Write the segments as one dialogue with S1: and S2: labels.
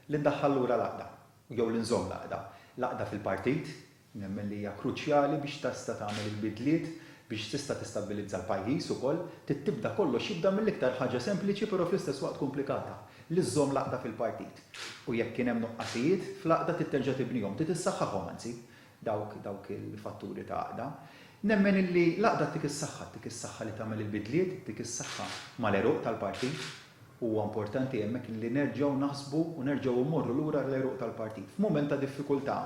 S1: Li ndaħħal lura l-għaqda, jew li nżomm l-għaqda. L-għaqda fil-partit, nemmen li hija kruċjali biex tista' tagħmel il-bidliet, biex tista' tistabbilizza l-pajjiż ukoll. Trid tibda kollox jibda mill-iktar ħaġa sempliċi però fl-istess waqt komplikata, li żżomm l-għaqda fil-partit. U jekk kien hemm nuqqasijiet, fl-għaqda trid terġa' tibnihom, trid issaħħaħhom anzi. dawk dawk il-fatturi ta' għaqda. Nemmen illi l-għaqda ttik is-saħħa, ttik is-saħħa li tagħmel il-bidliet, ttik is-saħħa mal-għeruq tal-partit. Huwa importanti hemmhekk illi nerġgħu naħsbu u nerġgħu mmorru lura l-għeruq tal-partit. F'mument ta' diffikultà,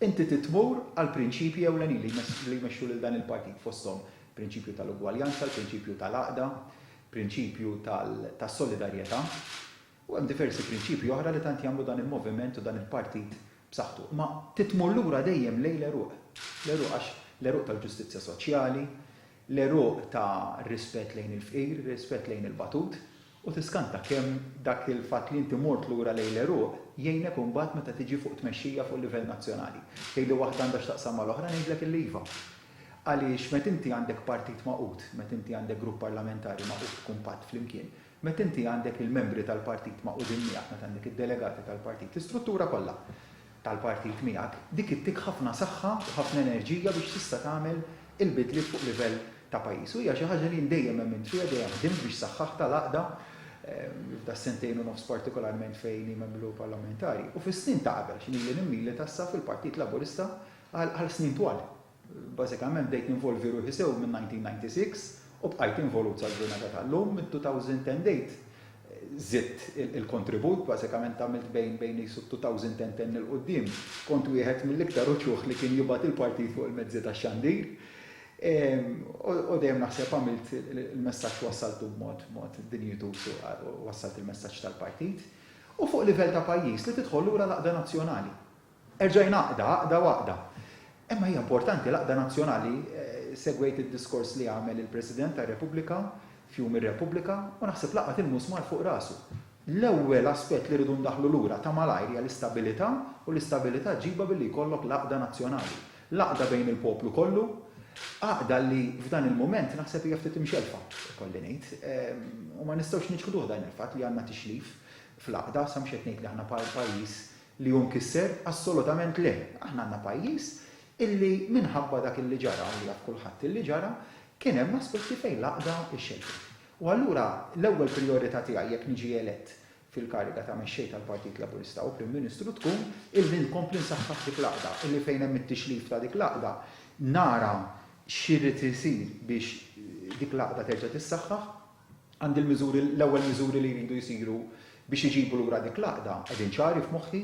S1: inti trid tmur għall-prinċipji ewlenin li li jmexxu lil dan il-partit, fosthom prinċipju tal-ugwaljanza, l-prinċipju tal-għaqda, prinċipju tal-solidarjetà. U hemm diversi prinċipji oħra li tant jagħmlu dan il-moviment u dan il-partit b'saħħtu. Imma titmur lura dejjem lejn l-għeruq. L-għeruq għax l-għeruq tal-ġustizzja soċjali, l-għeruq ta' rispett lejn il-fqir, rispett lejn il-batut. U tiskanta kemm dak il-fatt li inti mort lura lejn l-għeruq jgħinek imbagħad meta tiġi fuq tmexxija fuq livell nazzjonali. Tgħidli waħda għandha x'taqsam mal-oħra, ngħidlek illi iva. Għaliex meta inti għandek partit magħqud, meta inti għandek grupp parlamentari magħqud kumpatt flimkien, Meta inti għandek il-membri tal-partit magħqudin miegħek, meta għandek id-delegati tal-partit, l-istruttura kollha tal-partit miegħek, dik ittik ħafna saħħa u ħafna enerġija biex tista' tagħmel il-bidliet fuq livell ta' pajjiż. U hija xi ħaġa li jien dejjem emmint fiha, dejjem ħdimt biex saħħaħtha l-għaqda, f'das-sentejn u nofs partikolarment fejn hi membru parlamentari, u fis-snin ta' qabel x'inhili nimmilita issa fil-Partit Laburista għal snin twal. Bażikament bdejt ninvolvi ruħi sew min-1996 u bqajt involut sal-ġurnata tal-lum. Mid-2010 żidt il-kontribut, bażikament għamilt bejn qisu t-2010 'l quddiem kont wieħed mill-iktar uċuħ li kien jibgħat il-partit fuq il-mezzi tax-xandir u dejjem naħseb għamilt il-messaġġ wassaltu b'mod dinjituż u wassalt il-messaġġ tal-partit u fuq livell ta' pajjiż li tidħol lura l-għaqda nazzjonali. Erġa' jingħaqda, għaqda w'għaqda. Imma hija importanti l-għaqda nazzjonali. Segwejt id-diskors li għamel il-President tar-Repubblika f'Jum ir-Repubblika u naħseb laqat il-musmar fuq rasu. L-ewwel aspett li rridu ndaħħlu lura ta' malajr hija l-istabilità u l-istabilità ġġibha billi jkollok l-għaqda nazzjonali. L-għaqda bejn il-poplu kollu, għaqda li f'dan il-mument naħseb hija ftit imxellfa, ikolli ngħid. U ma nistgħux niċħduh dan il-fatt li għandna tixlif fl-għaqda, sa mhux qed ngħid li aħna pajjiż Li hu mkisser? Assolutament le. Aħna għandna pajjiż illi minħabba dak illi ġara, u li jaf kulħadd illi ġara, kien hemm aspetti fejn l-għaqda xxedddet. U allura l-ewwel prijorità tiegħi jekk niġi elett fil-kariga ta' Mexxej tal-Partit Laburista u Prim Ministru tkun illi nkompli nsaħħaħ dik l-għaqda, illi fejn hemm it-tixrif ta' dik l-għaqda nara x'irid isir biex dik l-għaqda terġa' tissaħħaħ. Għandi l-miżuri, l-ewwel miżuri li jridu jsiru biex iġibu lura dik l-għaqda qegħdin ċari f'moħħi,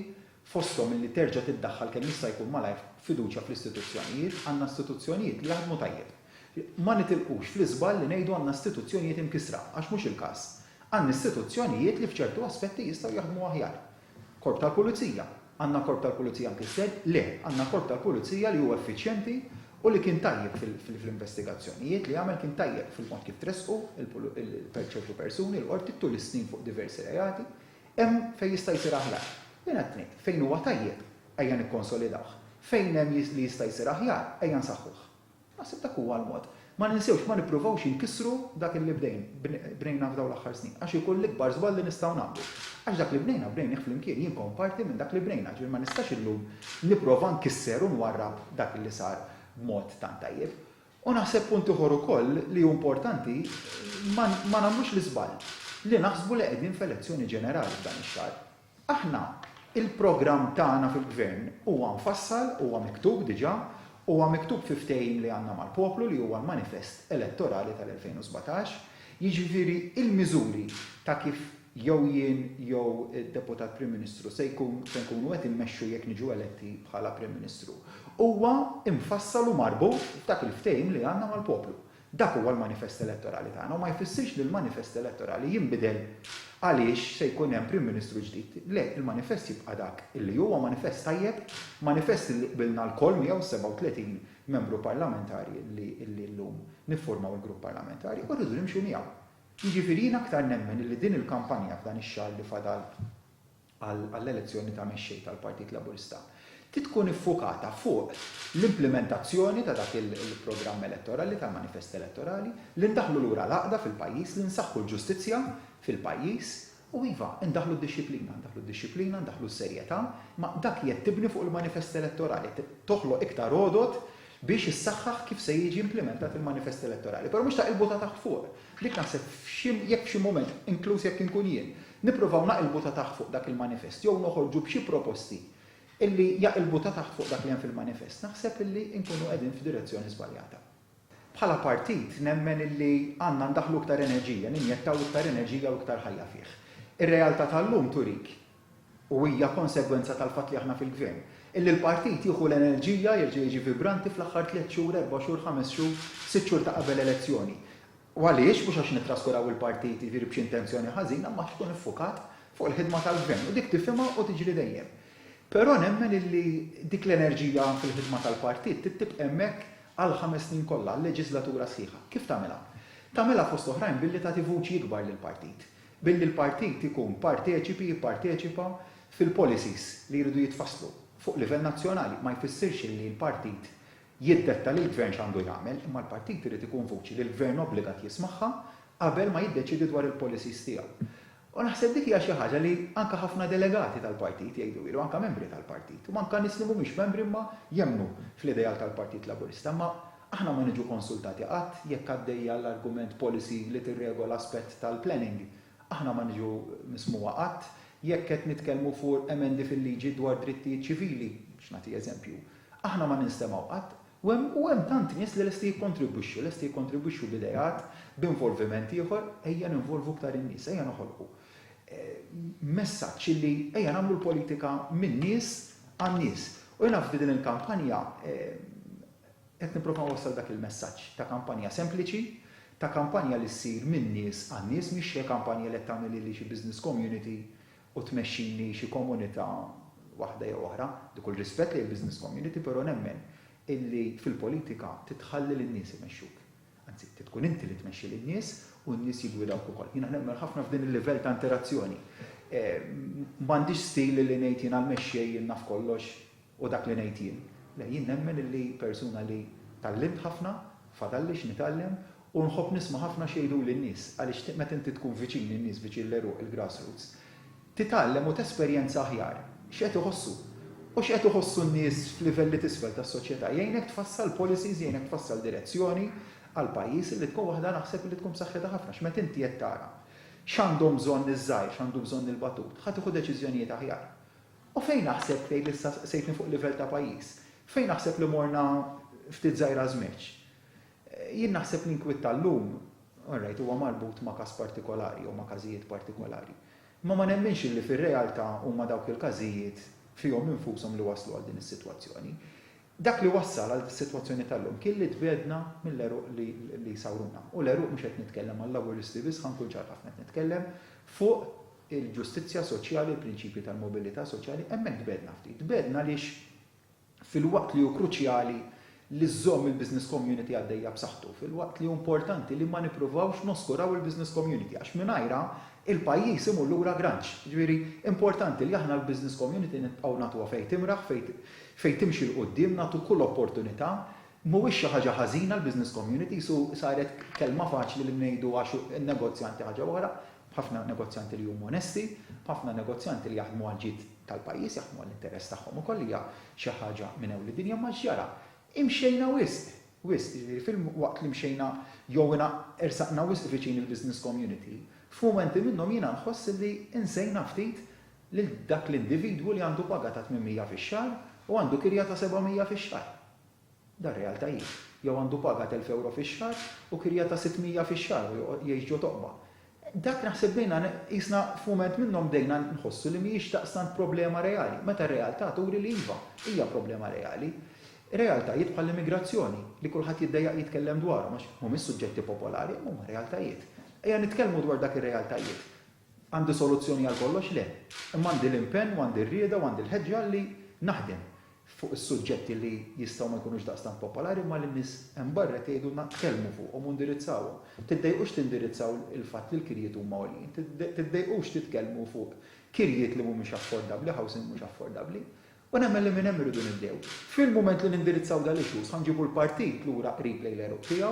S1: fosthom illi terġa' tiddaħħal kemm jista' jkun malajr fiduċja fl-istituzzjonijiet, għandna istituzzjonijiet li jaħdmu tajjeb. Ma nitilqux fl-iżball li ngħidu għandna istituzzjonijiet imkissra, għax mhux il-każ. Għandna istituzzjonijiet li f'ċertu aspetti jistgħu jaħdmu aħjar. Korp tal-Pulizija. Għandna Korp tal-Pulizija mkisser? Le, għandna Korp tal-Pulizija li hu effiċjenti u li kien tajjeb fl-investigazzjonijiet li għamel, kien tajjeb fil-mod kif tressqu ċertu persuni l-Qorti tul is-snin fuq diversi reati. Hemm fejn jista' jsir aħjar. Jien qed ngħid, fejn huwa tajjeb, ejja nikkonsolidawh. Fejn hemm li jista' jsir aħjar, ejja nsaħħuh. Naħseb dak huwa l-mod. Ma ninsewx, ma nippruvawx inkissru dak illi bdejn, bnejna f'dawn l-aħħar snin, għax ikun l-ikbar żball li nistgħu nagħmlu. Għax dak li bnejna, bnejnih flimkien, jien kont parti minn dak li bnejna, ġifieri ma nistax illum nipprova nkisser u nwarrab dak illi sar b'mod tant tajjeb. U naħseb punt ieħor ukoll li hu importanti, ma nagħmlux l-iżball li naħsbu li qegħdin f'elezzjoni ġenerali f'dan ix-xahar. Aħna, il-programm tagħna fil-Gvern huwa mfassal, huwa miktub diġà, huwa miktub fi ftehim li għandna mal-poplu li huwa l-manifest elettorali tal-2017, jiġifieri l-miżuri ta' kif jew jien jew id-Deputat Prim Ministru se nkunu qed immexxu jekk niġu eletti bħala Prim Ministru, huwa mfassal u marbut b'dak il-ftehim li għandna mal-poplu. Dak huwa l-manifest elettorali tagħna u ma jfissirx li l-manifest elettorali jinbidel għaliex se jkun hemm Prim Ministru ġdid. Le, il-manifest jibqa' dak li huwa, manifest tajjeb, manifest li qbilna lkoll miegħu s-37 Membru Parlamentari li llum nifformaw il-Grupp Parlamentari u rridu nimxu miegħu. Jiġifieri jien aktar nemmen li din il-kampanja f'dan ix-xahar li fadal għall-elezzjoni ta' mexxej tal-Partit Laburista trid tkun iffukata fuq l-implimentazzjoni ta' dak il-programm elettorali tal-manifest elettorali, li ndaħħlu lura l-għaqda fil-pajjiż, li nsaħħu l-ġustizzja fil-pajjiż u iva, indaħħlu d-dixxiplina, ndaħħlu d-dixxiplina, ndaħħlu s-serjetà, imma dak jgħid tibni fuq il-manifest elettorali, toħloq iktar għodod biex issaħħaħ kif se jiġi implimentat il-manifest elettorali. Però mhux ta' qilbu ta' taħt fuq. Dik naħseb f'xi jekk f'xi mument, inkluż jekk inkun jien, nippruvaw naqilbu ta' taħt fuq dak il-manifest jew noħorġu b'xi proposti illi jaqilbu ta' taħt fuq dak li hemm fil-manifest, naħseb illi nkunu qegħdin f'direzzjoni żbaljata. Bħala partit nemmen illi għandna ndaħħlu iktar enerġija, ninjettaw iktar enerġija u iktar ħajja fih. Ir-realtà tal-lum turik u hija konsegwenza tal-fatt li aħna fil-Gvern, illi l-partit jieħu l-enerġija, jerġa' jiġi vibranti fl-aħħar tliet xhur, erba' xhur, ħames xhur, sitt xhur ta' qabel elezzjoni. U għaliex? Mhux għax nittraskuraw il-partit, jiġifieri b'xi intenzjoni ħażina, imma għax tkun iffukat fuq il-ħidma tal-Gvern. U dik tifhimha u tiġri dejjem. Però nemmen illi dik l-enerġija fil-ħidma tal-partit trid tibqa' hemmhekk għall-ħames snin kollha, għal-leġiżlatura sħiħa. Kif tagħmilha? Tagħmilha fost oħrajn billi tagħti vuċi ikbar lill-partit. Billi l-partit ikun parteċipi, jipparteċipa, fil-policies li jridu jitfasslu fuq livell nazzjonali ma jfissirx li l-partit jiddetta lill-gvern x'għandu jagħmel imma l-partit irid ikun vuċi li l-gvern obbligat jismagħha qabel ma jiddeċiedi dwar il-policies tiegħu. U naħseb dik hija xi ħaġa li anke ħafna delegati tal-partit jgħidu hi u anke membri tal-partit u anke nies li mhumiex membri imma jemmnu fl-ideal tal-Partit Laburista imma Aħna ma niġu konsultati qatt jekk għaddejja l-argument policy li tirregola aspett tal-planning. Aħna ma niġu mismugħa qatt jekk qed nitkellmu fuq emendi fil-liġi dwar drittijiet ċivili, biex nagħti eżempju. Aħna ma ninstemgħu qatt. U hemm, u hemm tant nies li lesti jikkontribwixxu, lesti jikkontribwixxu b'ideat, b'involviment ieħor. Ejja ninvolvu iktar in-nies, ejja noħolqu messaġġ illi ejja nagħmlu l-politika min-nies għan-nies. U jiena f'din il-kampanja, Qed nipprova nwassal dak il-messaġġ ta' kampanja sempliċi, ta' kampanja li ssir minn nies għal nies, mhix xi kampanja li qed tagħmel lili xi business community u tmexxini xi komunità waħda jew oħra. Bi kull rispett lejn il-business community, però nemmen illi fil-politika trid tħalli lin-nies imexxuk. Anzi, trid tkun inti li tmexxi lin-nies u n-nies jiggwidawk ukoll. Jiena nemmen ħafna f'din il-livell ta' interazzjoni. M'għandix stil li ngħid jiena l-mexxej, jien naf kollox u dak li ngħid jien. Le, jien nemmen illi persuna li tgħallimt ħafna, fadalli x'nitgħallem u nħobb nisma' ħafna x'jgħiduli n-nies għaliex meta inti tkun viċin in-nies, viċin l-għeruq, il-grassroots, Titgħallem u tesperjenza aħjar x'qed iħossu u x'qed iħossu n-nies f'livelli t'isfel tas-soċjetà. Jgħinek tfassal policies, jgħinek tfassal direzzjoni għal pajjiż illi tkun waħda naħseb illi tkun b'saħħitha ħafna għax meta inti qed tara x'għandhom bżonn iż-żgħir, x'għandu bżonn il-batut, ħa tieħu deċiżjonijiet aħjar. U fejn naħseb, tgħidli issa sejtni fuq livell ta' pajjiż, fejn naħseb li morna ftit żgħira żmerċ? Jien naħseb l-inkwiet tal-lum, all right, huwa marbut ma' każ partikolari jew ma' każijiet partikolari. Imma ma nemminx illi fir-realtà huma dawk il-każijiet fihom infushom li wasslu għal din is-sitwazzjoni. Dak li wassal għal dis-sitwazzjoni tal-lum kien li tbiegħdna mill-għeruq li sawruna. U l-għeruq mhux qed nitkellem għal-Laburisti biss, ħa nkun ċar ħafna, qed nitkellem fuq il-ġustizzja soċjali, il-prinċipji tal-mobilità soċjali, hemmhekk tbiegħdna ftit. Tbiegħdna għaliex filwaqt li hu kruċjali li żżomm il-business community għaddejja b'saħħtu, filwaqt li hu importanti li ma nippruvawx noskuraw il-business community għax mingħajrha il-pajjiż imur lura granċ. Jiġifieri importanti li aħna l-business community nibqgħu nagħtuha fejn timraħ, fejn timxi 'l quddiem, nagħtu kull opportunità. Mhuwiex xi ħaġa ħażina l-business communities u saret kelma faċli li ngħidu għax in-negozjanti ħaġa oħra, B'ħafna negozjanti li huma onesti, b'ħafna negozjanti li jaħdmu għall-ġid tal-pajjiż, jaħdmu għall-interess tagħhom ukoll li hija xi ħaġa minn ewwli dinja, imma x'ġara? Imxejna wisq, wisq, jiġifieri filwaqt li mxejna jew ingħa ersaqna wisq viċin il-business community, f'mumenti minnhom jiena nħoss illi insejna ftit lil dak l-individwu li għandu paga ta' 800 fix-xahar u għandu kirja ta' 700 fix-xahar. Dar real ta' jgħix. Jew għandu paga t'elf ewro fix-xahar u kirja ta' sitt mija fix-xahar u joqgħod jgħix ġo toqba. Dak naħseb bdejna qisna f'mument minnhom bdejna nħossu li mhijiex daqstant problema reali, meta r-realtà turi li iva, hija problema reali. Realtajiet bħall-immigrazzjoni, li kulħadd jiddejjaq jitkellem dwarhom għax mhumiex suġġetti popolari, imma huma realtajiet. Ejja nitkellmu dwar dak ir-realtajiet. Għandi soluzzjoni għal kollox? Le. Imma għandi l-impenn u għandi r-rieda u għandi l-ħeġġa li naħdem fuq is-suġġetti li jistgħu ma jkunux daqstant popolari imma li n-nies hemm barra qed jgħidulna tkellmu fuqhom u ndirizzawhom. Tiddejqux tindirizzaw il-fatt li l-kirjiet huma għoljin. Tiddejqux titkellmu fuq kirjiet li mhumiex affordabbli, housing mhux affordabbli. U nemmen li minn hemm irridu nibdew. Fil-mument li nindirizzaw dal-issue, sa nġibu l-partit lura qrib lejn l-għeruq tiegħu.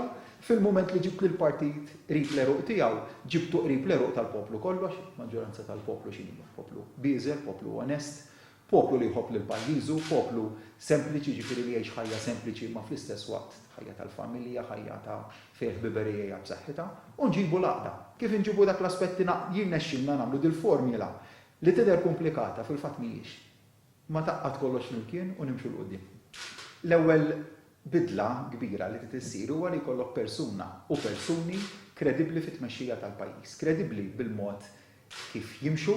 S1: Fil-mument li ġibt lill-partit qrib l-għeruq tiegħu, ġibtu qrib l-għeruq tal-poplu kollu għax il-maġġoranza tal-poplu x'inhi hija? Poplu bieżel, poplu onest, poplu li jħobb lil pajjiżu, poplu sempliċi, jiġifieri li jgħix ħajja sempliċi imma fl-istess waqt ħajja tal-familja, ħajja ta' fejn il-ħbiberija hija b'saħħitha. U nġibu l-għaqda. Kif inġibu dak l-aspett li jirnexxilna nagħmlu dil-formula li tidher kumplikata, fil-fatt mhijiex. ma tgħaqqad kollox flimkien u nimxu 'l quddiem. L-ewwel bidla kbira li trid issir huwa li jkollok persuna u persuni kredibbli fit-tmexxija tal-pajjiż, kredibbli bil-mod kif jimxu,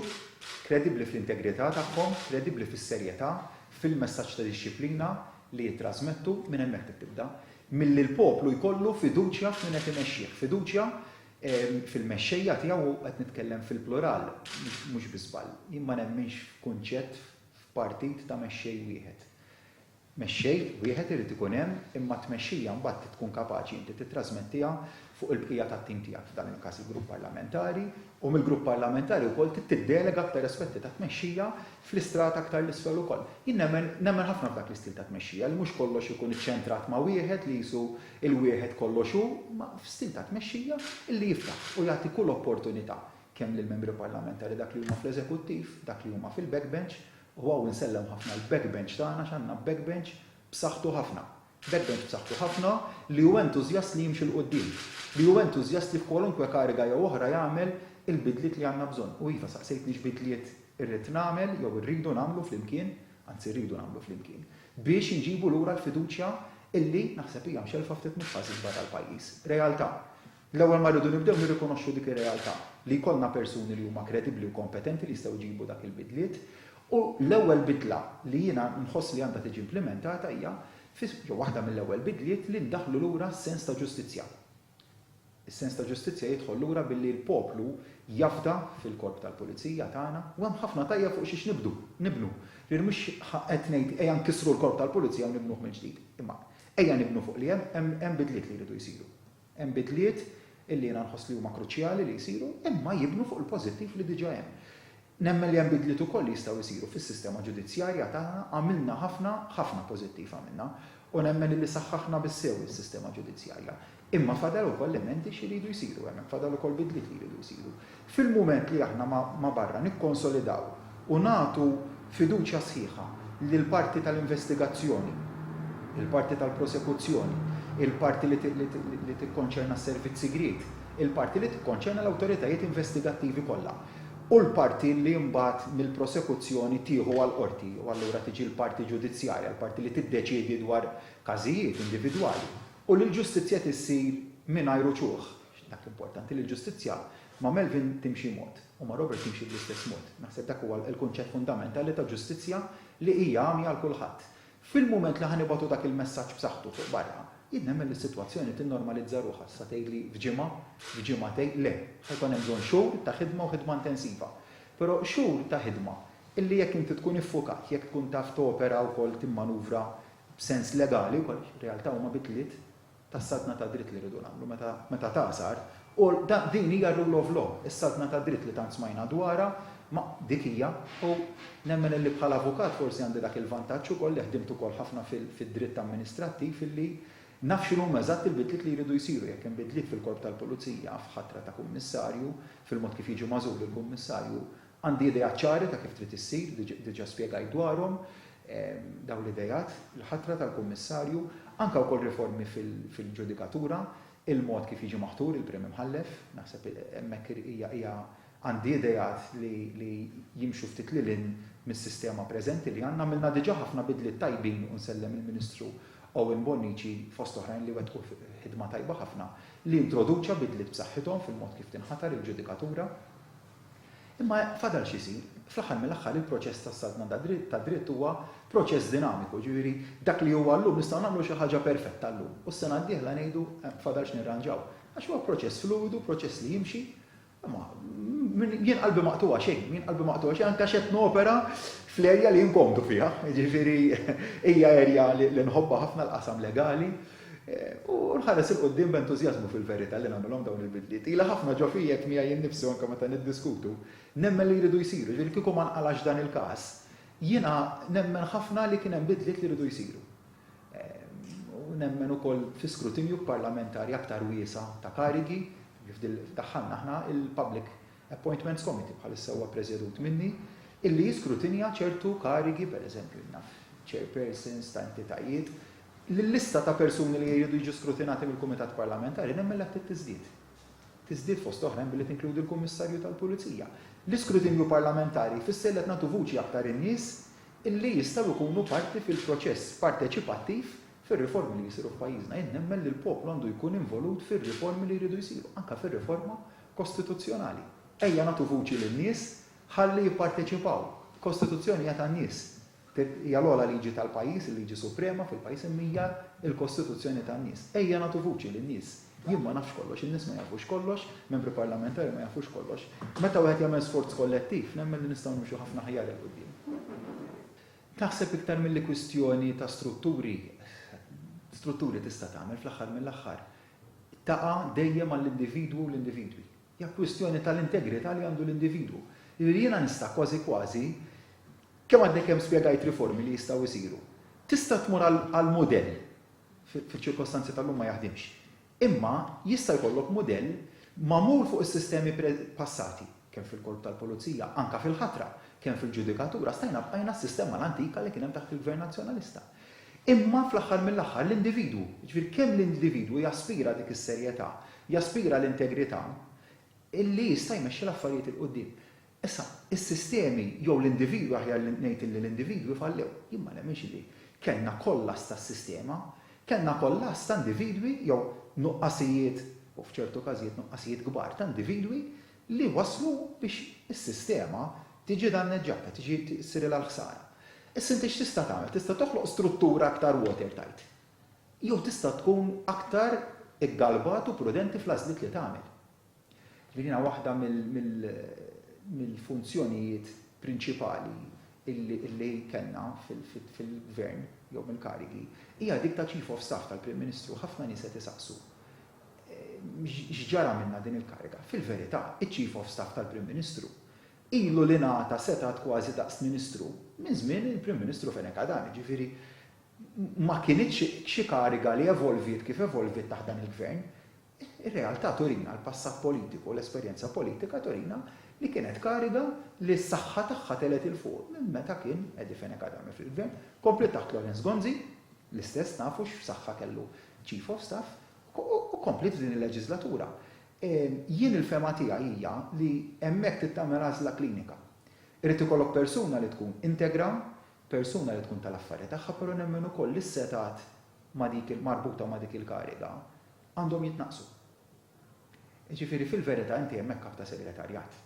S1: kredibbli fl-integrità tagħhom, kredibbli fis-serjetà, fil-messaġġ ta' dixxiplina li jittrasmettu, minn hemmhekk trid tibda, milli l-poplu jkollu fiduċja f'min qed imexxih, fiduċja fil-mexxejja tiegħu, u qed nitkellem fil-plural, mhux bi żball. Jien ma nemminx f'kunċett, f'partit ta' mexxej wieħed. Mexxej wieħed irid ikun hemm, imma t-tmexxija mbagħad trid tkun kapaċi inti tittrasmettiha fuq il-bqija tat-tim tiegħek, f'dan il-każ il-Grupp Parlamentari, u mill-Grupp Parlamentari wkoll trid tiddelega aktar aspetti ta' tmexxija fl-istrata aktar 'l isfel ukoll. Jien nemmen, nemmen ħafna f'dak l-istil ta' tmexxija, li mhux kollox ikun iċċentrat ma' wieħed li qisu Il-wieħed kollox hu, imma f'stil ta' tmexxija, li jiftaħ u jagħti kull opportunità, kemm lill-Membri Parlamentari dak li huma fl-Eżekuttiv, dak li huma fil-backbench, u hawn insellem ħafna l-backbench tagħna għax għandna backbench b'saħħtu ħafna. Backbench b'saħħtu ħafna li hu entużjast li jimxi 'l quddiem, li hu entużjast li f'kwalunkwe kariga jew oħra jagħmel il-bidliet li għandna bżonn. U iva, saqsejtni x'bidliet irrid nagħmel jew irridu nagħmlu flimkien, anzi rridu nagħmlu flimkien. biex inġibu lura l-fiduċja illi naħseb hija mxellfa ftit mill-fażi l-kbar tal-pajjiż. Realtà. L-ewwel ma rridu nibdew nirrikonoxxu dik ir-realtà, li jkollna persuni li huma kredibbli u kompetenti li jistgħu jġibu dak il-bidliet u l-ewwel bidla li jiena nħoss li għandha tiġi implimentata hija, jew waħda mill-ewwel bidliet, li ndaħħlu lura s-sens ta' ġustizzja. Is-sens ta' ġustizzja jidħol lura billi l-poplu jafda fil-korp tal-pulizija tagħna u hemm ħafna tajjeb fuq xiex nibdu, nibnu. Ġifieri mhux qed ngħid ejja nkissru l-korp tal-pulizija u nibnuh mill-ġdid. Imma ejja nibnu fuq li hemm, hemm hemm bidliet li jridu jsiru. Hemm bidliet illi jiena nħoss li huma kruċjali li jsiru imma jibnu fuq il-pożittiv li diġa hemm. Nemmen li hemm bidliet ukoll li jistgħu jsiru fis-sistema ġudizzjarja tagħna, għamilna ħafna, ħafna pożittiv għamilna, u nemmen illi saħħaħna bis-sew is-sistema ġudizzjarja. Imma fadal ukoll emendi xi jridu jsiru hemm, fadal ukoll bidliet li jridu jsiru. Fil-mument li aħna ma' ma' barra nikkonsolidaw u nagħtu fiduċja sħiħa lill-parti tal-investigazzjoni, il-parti tal-prosekuzzjoni, il-parti li li tikkonċerna s-servizz sigriet, il-parti li tikkonċerna l-awtoritajiet investigattivi kollha, u l-parti li mbagħad mill-prosekuzzjoni tieħu għall-qorti u allura tiġi l-parti ġudizzjarja, l-parti li tiddeċiedi dwar każijiet individwali, u li l-ġustizzja tissir mingħajr uċuħ. Dak importanti li l-ġustizzja ma' Melvin timxi mod u ma' Robert timxi bl-istess mod. Naħseb dak huwa l-kunċett fundamentali ta' ġustizzja li hija għamja għal kulħadd. Fil-mument li ħa nibgħatu dak il-messaġġ b'saħħtu fuq barra, jien nemmen li s-sitwazzjoni tinnormalizza ruħha. Tista' tgħidli f'ġimgħa, f'ġimgħatejn, le. Ħa jkun hemm bżonn xhur ta' ħidma u ħidma intensiva. Però xhur ta' ħidma illi jekk inti tkun iffukat, jekk tkun taf topera wkoll timmanuvra b'sens legali wkoll għax realtà huma bidliet, tas-saltna tad-dritt li rridu nagħmlu meta meta tagħsar u da din hija r-rule of law, is-saltna tad-dritt li tant smajna dwarha ma dik hija u nemmen illi bħala avukat forsi għandi dak il-vantaġġ ukoll li ħdimt ukoll ħafna fil fid-dritt amministrattiv illi naf x'inhuma eżatt il-bidliet li jridu jsiru jekk hemm bidliet fil-Korp tal-Pulizija, f'ħatra ta' Kummissarju, fil-mod kif jiġi magħżul il-Kummissarju, Għandi ideat ċari ta' kif trid issir, diġà spjegajt dwarhom dawn l-ideat, il-ħatra tal-Kummissarju, anke wkoll riformi fil-ġudikatura, il-mod kif jiġi maħtur il-Prim Imħallef, naħseb hemmhekk hija għandi ideat li jimxu ftit lil hinn mis-sistema preżenti li għandna. Għamilna diġà ħafna bidliet tajbin u nsellem lill-Ministru Owen Bonnici fost oħrajn li wettqu ħidma tajba ħafna li introduċa bidliet b'saħħithom fil-mod kif tinħatar il-ġudikatura. Imma fadal x'isir? Fl-aħħar mill-aħħar il-proċess tas-saltna tad-dritt huwa proċess dinamiku, jiġifieri dak li huwa llum nistgħu nagħmlu xi ħaġa perfetta llum u s-sena d-dieħla ngħidu fadal x'nirranġaw. Għax huwa proċess fluwidu, proċess li jimxi. Imma jien qalbi ma qtugħha xejn, jien qalbi ma qtugħha xejn anke għax qed nopera fl-erja li jien komdu fiha, jiġifieri hija erja li nħobbha ħafna l-qasam legali, U nħares 'il quddiem b'entużjażmu fil-verità li nagħmilhom dawn il-bidliet. Ilha ħafna ġo fija għedt miegħi innifsi u anke meta niddiskutu, nemmen li jridu jsiru, jiġifieri kieku ma nqalax dan il-każ, jiena nemmen ħafna li kien hemm bidliet li jridu jsiru. U nemmen ukoll fi skrutinju parlamentari aktar wiesa' ta' karigi, kif daħħalna aħna il-Public Appointments Committee, bħalissa huwa ppreżedut minni, illi jiskrutinja ċertu karigi, pereżempju, naf, chairpersons ta' entitajiet, li l-lista ta' persuni li jridu jiġu skrutinati mill-Kumitat Parlamentari nemmilha ftit tiżdied. Tiżdied fost oħrajn billi tinkludi l-Kummissarju tal-Pulizija. L-iskrutinju parlamentari jfisser li qed nagħtu vuċi aktar in-nies li jistgħu jkunu parti fil-proċess parteċipattiv fir-riformi li jsiru f'pajjiżna. Jien nemmen li l-poplu għandu jkun involut fir-riformi li jridu jsiru, anke fir-riforma kostituzzjonali. Ejja nagħtu vuċi lin-nies ħalli jipparteċipaw. Kostituzzjoni hija tan-nies. Tgħid, Hija l-ogħla liġi tal-pajjiż, il-liġi suprema fil-pajjiż imma hija l-kostituzzjoni tan-nies. Ejja nagħtu vuċi lin-nies. Jien ma nafx kollox, in-nies ma jafux kollox, membri parlamentari ma jafux kollox. Meta wieħed jagħmel sforz kollettiv, nemmen li nistgħu nimxu ħafna aħjar 'il quddiem. Naħseb iktar milli kwistjoni ta' strutturi, strutturi tista' tagħmel fl-aħħar mill-aħħar, taqa' dejjem għall-individwu u l-individwi. Hija kwistjoni tal-integrità li għandu l-individwu. Jiġifieri jiena nista' kważi kważi, kemm għadni kemm spjegajt riformi li jistgħu jsiru. Tista' tmur għal mudell, fiċ-ċirkostanzi tal-lum ma jaħdimx, imma jista' jkollok mudell magħmul fuq is-sistemi passati, kemm fil-Korp tal-Pulizija, anke fil-ħatra, kemm fil-ġudikatura, stajna bqajna s-sistema l-antika li kien hemm taħt il-Gvern Nazzjonalista. Imma fl-aħħar mill-aħħar l-individwu, jiġifieri kemm l-individwu jaspira dik is-serjetà, jaspira l-integrità, li jista' jmexxi l-affarijiet 'il quddiem. Issa, is-sistemi jew l-individwi aħjar li ngħid illi l-individwi fallew. Jien ma nemminx illi kellna kollass tas-sistema, kellna kollass ta' individwi jew nuqqasijiet, u f'ċertu każijiet nuqqasijiet kbar ta' individwi li wasslu biex is-sistema tiġi danneġġata, tiġi ssirilha l-ħsara. Issa inti x'tista' tagħmel? Tista' toħloq struttura aktar watertight. Jew tista' tkun aktar iggalbat u prudenti fl-għażliet li tagħmel. Ġifieri din hija waħda mill-funzjonijiet prinċipali li kellna fil-Gvern jew mill-karigi, hija dik ta' Chief of Staff tal-Prim Ministru. Ħafna nies qed isaqsu X'ġara minnha din il-kariga? Fil-verità, iċ-Chief of Staff tal-Prim Ministru ilu li ngħata setgħat kważi daqs Ministru minn żmien il-Prim Ministru Fenech Adan, jiġifieri ma kinitx xi kariga li evolviet kif evolviet taħt dan il-Gvern. Ir-realtà turina, l-passat politiku, l-esperjenza politika turina li kienet kariga li s-saħħa tagħha telgħet 'il fuq minn meta kien Eddie Fenech Adami fil-Gvern. Kompliet taħt Lawrence Gonzi, l-istess nafu x'saħħa kellu Chief of Staff, u kompliet f'din il-leġiżlatura. Jien il-fehma tiegħi hija li hemmhekk trid tagħmel għażla klinika. Irid ikollok persuna li tkun integra, persuna li tkun tal-affarja tagħha, però nemmen ukoll li s-setgħat ma' dik marbuta ma' dik il-kariga għandhom jitnaqqsu. Jiġifieri fil-verità inti hemmhekk Kap ta' Segretarjat.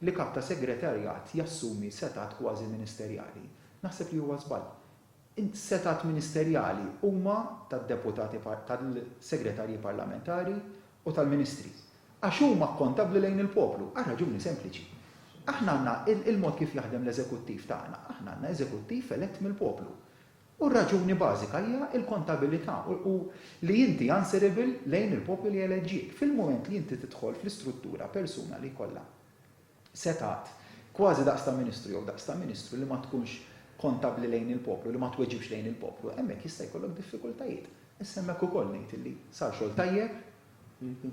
S1: Li Kap ta' Segretarjat jassumi setgħat kważi ministerjali naħseb li huwa żball. Is-setgħat ministerjali huma tad-deputati, tal-segretarji parlamentari u tal-ministri, għax huma akkontabbli lejn il-poplu, għal raġuni sempliċi. Aħna għandna, il-mod kif jaħdem l-eżekuttiv tagħna, aħna għandna eżekuttiv elett mill-poplu. U r-raġuni bażika hija l-kontabilità u li inti answerable lejn il-poplu li eleġġiek. Fil-mument li inti tidħol fl-istruttura persuna li jkollha setgħat, kważi daqs ta' ministru jew daqs ta' ministru li ma tkunx kontabbli lejn il-poplu, li ma tweġibx lejn il-poplu, hemmhekk jista' jkollok diffikultajiet. Issa hemmhekk ukoll ngħid illi sar xogħol tajjeb,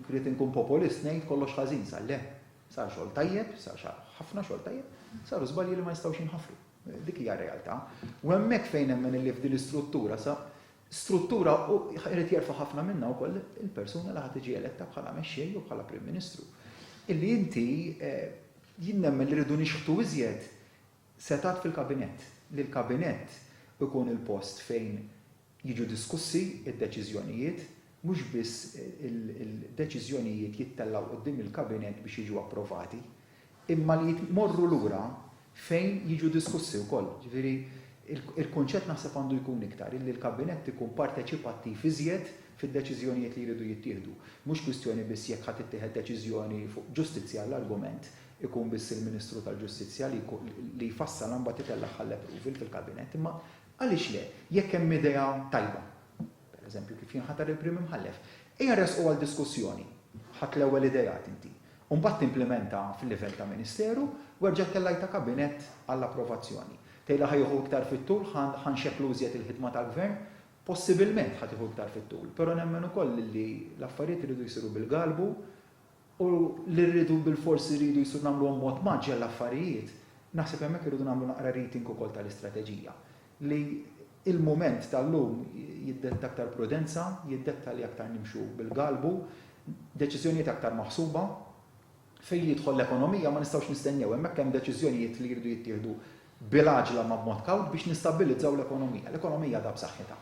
S1: rrid inkun popolist ngħid kollox ħażin, sar le, sar xogħol tajjeb, sar ħafna xogħol tajjeb, saru żbalji li ma jistgħux jinħafru. Dik hija r-realtà. U hemmhekk fejn nemmen illi f'din l-istruttura sa struttura u jrid jerfa' ħafna minnha wkoll il-persuna li ħa tiġi eletta bħala mexxej jew bħala Prim Ministru. Illi inti jien nemmen li rridu nixħtu iżjed setgħat fil-Kabinett, li l-Kabinett ikun il-post fejn jiġu diskussi d-deċiżjonijiet, mhux biss il-deċiżjonijiet jittellgħu quddiem il-Kabinett biex jiġu approvati. imma li jmorru lura fejn jiġu diskussi wkoll. Ġifieri, il-kunċett naħseb għandu jkun iktar illi l-Kabinett ikun parteċipattiv iżjed fid-deċiżjonijiet li jridu jittieħdu. Mhux kwistjoni biss jekk ħa tittieħed deċiżjoni fuq ġustizzja għall-argument, ikun biss il-Ministru tal-Ġustizzja li jfassalha mbagħad itellagħha għall-approval fil-Kabinett, imma għaliex le, jekk hemm idea tajba. pereżempju kif jinħatar il-Prim Imħallef, ejja ressqu għal diskussjoni. Ħadt l-ewwel ideat inti. U mbagħad timplimenta fil-livell ta' Ministeru u erġa' ttellgħi ta' Kabinett għall-approvazzjoni. Tgħidli ħa jieħu iktar fit-tul, ħa nxekklu iżjed il-ħidma tal-Gvern? Possibilment ħa tieħu iktar fit-tul, però nemmen ukoll li l-affarijiet iridu jsiru bil-galbu u li rridu bilfors irridu jsir nagħmluhom b'mod mgħaġġel l-affarijiet, naħseb hemmhekk irridu nagħmlu naqra reading ukoll tal-istrateġija li l-mument tal-lum jiddetta aktar prudenza, jiddetta li aktar nimxu bil-galbu, deċiżjonijiet aktar maħsuba. Fejn jidħol l-ekonomija ma nistgħux nistennew, hemmhekk hemm deċiżjonijiet li jridu jittieħdu bil-għaġla ma b'mod kawt biex nistabbilizzaw l-ekonomija. L-ekonomija għadha b'saħħitha.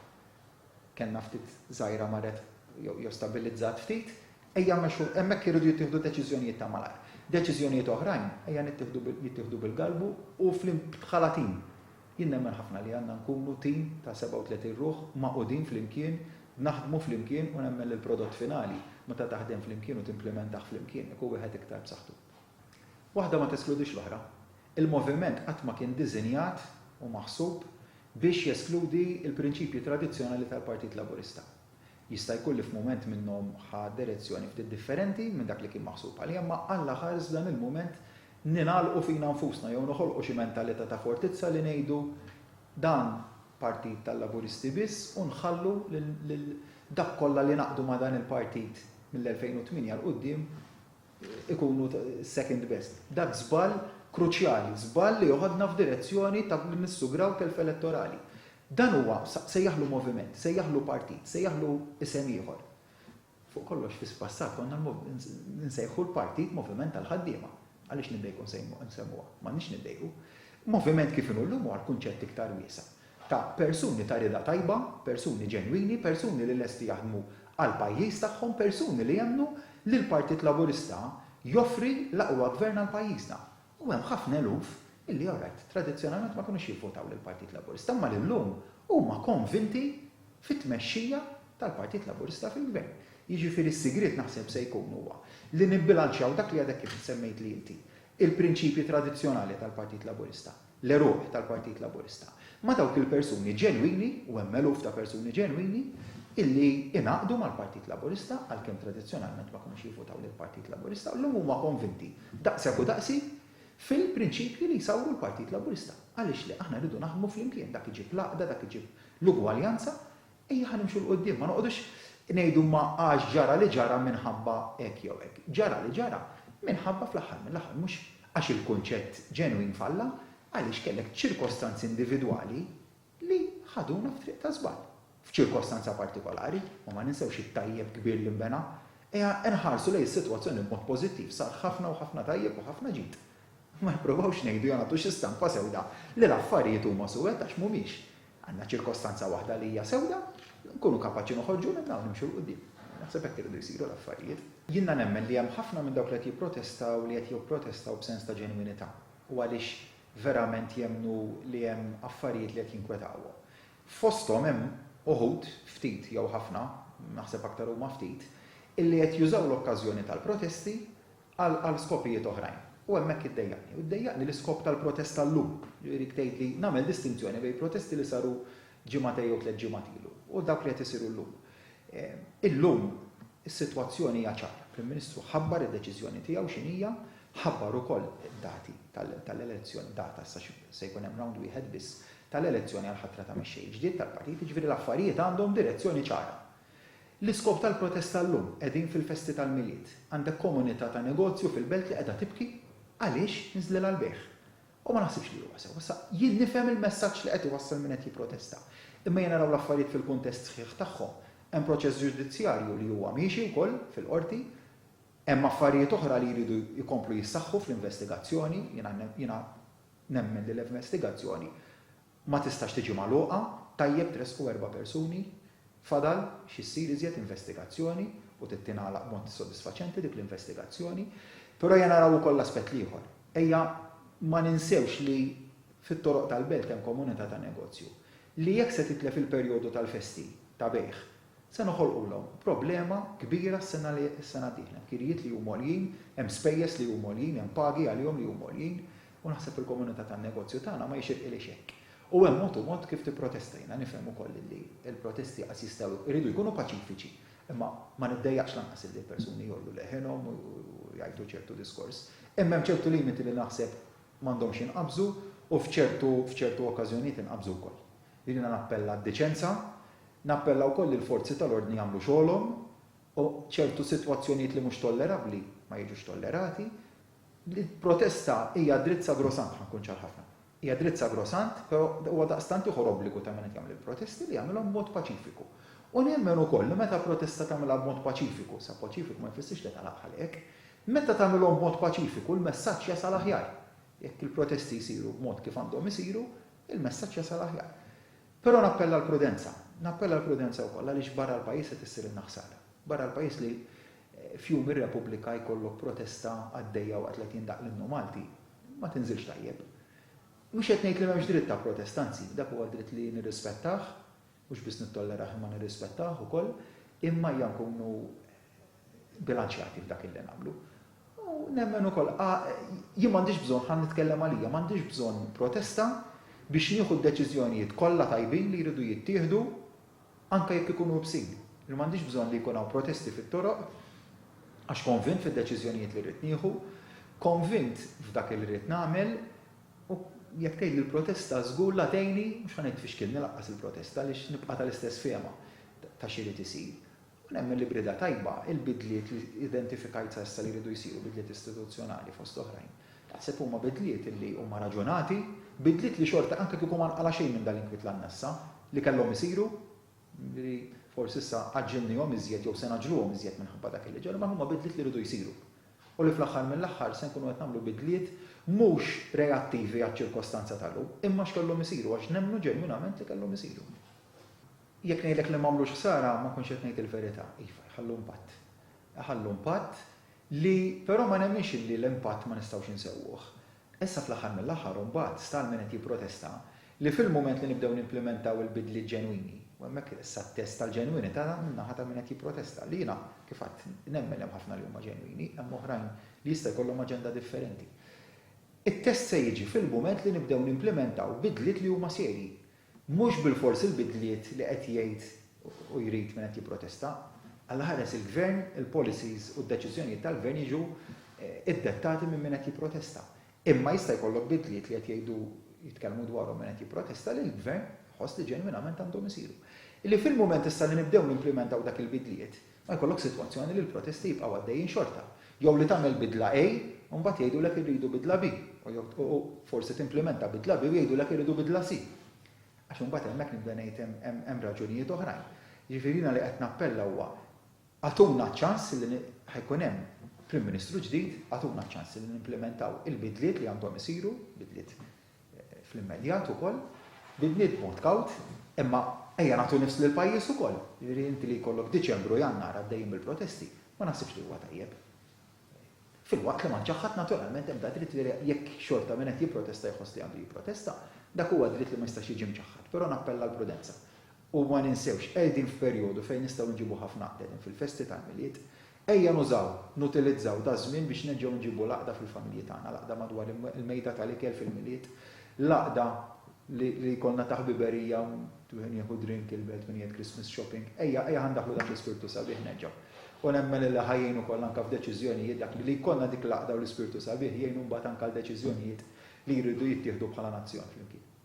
S1: kellna ftit żgħira marret jew stabbilizzat ftit, ejja mmexxu, hemmhekk iridu jittieħdu deċiżjonijiet ta' malajr. Deċiżjonijiet oħrajn ejja jittieħdu bil-galbu u bħala tim. Jien nemmen ħafna li għandna nkunu tim ta' 37 ruħ magħqudin flimkien, naħdmu flimkien u nemmen li l-prodott finali, meta taħdem flimkien u timplimentah flimkien, ikun wieħed iktar b'saħħtu. Waħda ma teskludix l-oħra. Il-moviment qatt ma kien diżinjat u maħsub biex jeskludi l-prinċipji tradizzjonali tal-Partit Laburista. Jista' jkun li f'mument minnhom ħa direzzjoni ftit differenti minn dak li kien maħsub għalija imma Alla ħares f'dan il-mument ningħalqu fina nfusna jew noħolqu xi mentalità ta' fortizza li ngħidu dan Partit tal-Laburisti biss u nħallu lil dak kollha li naqdu ma' dan il-Partit mill-2008 'l quddiem ikunu second best. Dak żball kruċjali, żball li joħodna f'direzzjoni ta' li nissugraw telf elettorali. Dan huwa, sejjaħlu moviment, sejjaħlu partit, sejjaħlu isem ieħor. Fuq kollox fis-passat konna nsejħu l-partit Moviment tal-Ħaddiema. Għaliex niddejqu nsemmuha? M'għandniex niddejqu. Moviment kif inhu llum huwa l-kunċett iktar wiesa'. ta' persuni ta' rieda tajba, persuni ġenwini, persuni li lesti jaħdmu għall-pajjiż tagħhom, persuni li jemmnu li l-Partit Laburista joffri l-aqwa Gvern għal pajjiżna. U hemm ħafna eluf illi all right, tradizzjonalment ma kinux jivvotaw lill-Partit Laburista imma li llum huma konvinti fit-tmexxija tal-Partit Laburista fil-Gvern. Jiġifieri s-sigriet naħseb se jkun huwa li nibbilanċjaw dak li għadek kif semmejtli inti, il-prinċipji tradizzjonali tal-Partit Laburista, l-għeruq tal-Partit Laburista ma' dawk il-persuni ġenwini, u hemm eluf ta' persuni ġenwini, illi ingħaqdu mal-Partit Laburista, għalkemm tradizzjonalment ma kinux jivvutaw lill-Partit Laburista, u llum huma konvinti, daqshekk u daqsi, fil-prinċipji li jsawru l-Partit Laburista. Għaliex le? Aħna rridu naħdmu flimkien, dak iġib l-għaqda, dak iġib l-ugwaljanza, Ejjeha nimxu 'l quddiem, ma noqogħdux ngħidu ma għax ġara li ġara minħabba hekk jew hekk. Ġara li ġara minħabba fl-aħħar mill-aħħar mhux għax il-kunċett ġenwin falla, għaliex kellek ċirkostanzi individwali li ħaduna f'triq ta' żball. F'ċirkostanza partikolari, ma ma ninsewx it-tajjeb kbir li nbena. Ejja nħarsu lejn is-sitwazzjoni b'mod pożittiv, sar ħafna u ħafna tajjeb u ħafna ġid. Ma nippruvawx ngħidu jew nagħtu xi stampa sewda li l-affarijiet huma suwed għax mhumiex. Għandna ċirkostanza waħda li hija sewda, nkunu kapaċi noħorġu minnha u nimxu 'l quddiem. Naħseb hekk iridu jsiru l-affarijiet. Jiena nemmen li hemm ħafna minn dawk li qed jipprotestaw li qed jopprotestaw b'sens ta' ġenwinità u għaliex verament jemmnu li hemm affarijiet li qed jinkwetawhom. Fosthom hemm uħud, ftit jew ħafna, naħseb aktar huma ftit, illi qed jużaw l-okkażjoni tal-protesti għal għal skopijiet oħrajn. U hemmhekk iddejjaqni. U ddejjaqni l-iskop tal-protesta llum. Jiġifieri tgħidli nagħmel distinzjoni bejn protesti li saru ġimagħtej jew tliet ġimgħat ilu u dawk li qed isiru llum. Illum is-sitwazzjoni hija ċara. Il-Prim Ministru ħabbar id-deċiżjoni tiegħu x'inhija, ħabbar ukoll id-dati tal-elezzjoni, data issa se jkun hemm round wieħed biss tal-elezzjoni għall-ħatra ta' mexxej ġdid tal-partit, jiġifieri l-affarijiet għandhom direzzjoni ċara. L-iskop tal-protesta llum, qegħdin fil-festi tal-Milied. Għandek komunità ta' negozju fil-belt li qiegħda tibki għaliex nżlilha l-bejgħ. U ma naħsibx li huwa sew. Issa, jien nifhem il-messaġġ li qed iwassal min qed jipprotesta. Imma jien naraw l-affarijiet fil-kuntest sħiħ tagħhom. Hemm proċess ġudizzjarju li huwa miexi wkoll fil-Qorti. Hemm affarijiet oħra li jridu jkomplu jissaħħu fl-investigazzjoni. Jiena jiena nemmen li l-investigazzjoni ma tistax tiġi magħluqa, tajjeb tressqu erba' persuni, fadal xi ssir iżjed investigazzjoni u trid tingħalaq b'mod sodisfaċenti dik l-investigazzjoni. Però ejja naraw ukoll l-aspett l-ieħor. Ejja ma ninsewx li fit-toroq tal-belt hemm komunità ta' negozju li jekk se titlef il-perjodu tal-festi ta' bejgħ se noħolqulhom problema kbira s-sena li s-sena d-dieħla. Hemm kirjiet li huma għoljin, hemm spejjeż li huma għoljin, hemm pagi għalihom li huma għoljin, U naħseb fil-komunità tan-negozju tagħna ma jixirqilhiex hekk. U hemm mod u mod kif tipprotesta. Jiena nifhem ukoll illi l-protesti qas jistgħu, iridu jkunu paċifiċi. Imma ma niddejjaqx lanqas illi l-persuni jgħollu leħinhom u jgħidu ċertu diskors. Imma hemm ċertu limiti li naħseb m'għandhomx jinqabżu u f'ċertu f'ċertu okkażjonijiet inqabżu wkoll. Jiena nappella għad-deċenza, nappella wkoll li l-forzi tal-ordni jagħmlu xogħolhom u ċertu sitwazzjonijiet li mhux tollerabbli ma jiġux tollerati. Il-protesta hija dritt sagrosant, ħa nkun ċar ħafna. Hija dritt sagrosant, però huwa daqstant ieħor obbligu ta' min qed jagħmel il-protesti li jagħmilhom b'mod paċifiku. U nemmen ukoll li meta protesta tagħmilha b'mod paċifiku, sa paċifiku ma jfissirx li tagħlaq bħal hekk, meta tagħmilhom b'mod paċifiku l-messaġġ jasal aħjar. Jekk il-protesti jsiru b'mod kif għandhom isiru, il-messaġġ jasal aħjar. Però nappella l-prudenza. Nappella l-prudenza wkoll għaliex barra l-pajjiż qed issirilna ħsara. Barra l-pajjiż li f'jum ir-Repubblika jkollok protesta għaddejja waqt li qed jindaqq l-Innu Malti, ma tinżilx tajjeb. Mhux qed ngħid li m'hemmx dritt ta' protesta, anzi, dak huwa dritt li nirrispettah, mhux biss nittollerah imma nirrispettah ukoll, imma ejja nkunu bilanċjati f'dak illi nagħmlu. U nemmen ukoll jien m'għandix bżonn ħa nitkellem għalija, m'għandix bżonn protesta biex nieħu d-deċiżjonijiet kollha tajbin li jridu jittieħdu anke jekk ikunu ibsin. Li m'għandix bżonn li jkun hawn protesti fit-toroq għax konvint fid-deċiżjonijiet li rrid nieħu, konvint f'dak illi rrid nagħmel u jekk tgħidli l-protesta żgur la tgħinni, mhux ħa ngħid tfixkilni lanqas il-protesta għaliex nibqa' tal-istess fehma ta' x'irid isir. U nemmen li b'rieda tajba, il-bidliet li identifikajt sa issa li jridu jsiru, bidliet istituzzjonali fost oħrajn, naħseb huma bidliet li huma raġunati, bidliet li xorta anke kieku ma nqala' xejn minn dal-inkwiet l-annessa, li kellhom isiru, li forsi issa għaġġilnihom iżjed jew se ngħaġġluhom iżjed minħabba dak li ġara, imma huma bidliet li jridu jsiru. U li fl-aħħar mill-aħħar se nkunu qed nagħmlu bidliet mhux reattivi għaċ-ċirkostanza tal-lum, imma x'kellhom isiru għax nemmnu ġenwinament li kellhom isiru. Jekk ngħidlek li m'għamlux ħsara, ma nkunx qed ngħid il-verità. Iva, jħallu impatt. Iħallu impatt li però ma nemminx illi l-impatt ma nistgħux insewwuh. Issa fl-aħħar mill-aħħar imbagħad sta għal min qed jipprotesta li fil-mument li nibdew nimplimentaw il-bidliet ġenwini, u hemmhekk issa t-test tal-ġenwinità min-naħa ta' min qed jipprotesta, li jiena, kif għedt, nemmen li hemm ħafna li huma ġenwini, hemm oħrajn li jista' jkollhom aġenda differenti. It-test se jiġi fil-mument li nibdew nimplimentaw bidliet li huma serji. Mhux bilfors il-bidliet li qed jgħid u jrid min qed jipprotesta. Alla ħares il-Gvern, il-policies u d-deċiżjonijiet tal-Gvern jiġu ddettati minn min qed jipprotesta. Imma jista' jkollok bidliet li qed jgħidu, jitkellmu dwarhom min qed jipprotesta li l-Gvern iħoss li ġenwinament għandhom isiru. Li fil-mument issa li nibdew nimplimentaw dak il-bidliet, Ma jkollokx sitwazzjoni li l-protesti jibqgħu għaddejjin xorta, jew li tagħmel bidla A u mbagħad jgħidulek irridu bidla B, u forsi timplimenta bidla B u jgħidulek irridu bidla C. Għax imbagħad hemmhekk nibda ngħid hemm raġunijiet oħrajn. Jiġifieri jiena li qed nappella huwa agħtuna ċ-ċans li ħa jkun hemm Prim Ministru ġdid, agħtuna ċ-ċans li nimplimentaw il-bidliet li għandhom isiru, bidliet fl-immedjat ukoll, bidniet b'mod kawt, imma ejja nagħtu nifs lill-pajjiż ukoll. Jiġifieri inti li jkollok Diċembru u Jannar għaddejjin bil-protesti, ma naħsibx li huwa tajjeb. Filwaqt li ma nċaħħ ħadd naturalment ebda dritt li jekk xorta min qed jipprotesta jħoss li għandu jipprotesta, dak huwa dritt li ma jistax jiġi mċaħħad, però nappella għall-prudenza. U ma ninsewx, qegħdin f'perjodu fejn nistgħu nġibu ħafna qtedin fil-festi tal-Milied, Ejja nużaw, nutilizzaw daż-żmien biex nerġgħu nġibu l-għaqda fil-familji tagħna, l-għaqda madwar il-mejda tal-ikel fil-Milied, l-għaqda li jkollna ta' ħbiberija, wieħed jieħu drink, il-belt min jgħid Christmas shopping. Ejja, ejja ħa ndaħħlu dan l-ispirtu sabiħ nerġgħu. U nemmen illi ħa jgħin ukoll anke f'deċiżjonijiet dak li li jkollna dik l-għaqda u l-ispirtu sabiħ jgħinu mbagħad anke għal deċiżjonijiet li jridu jittieħdu bħala nazzjon flimkien.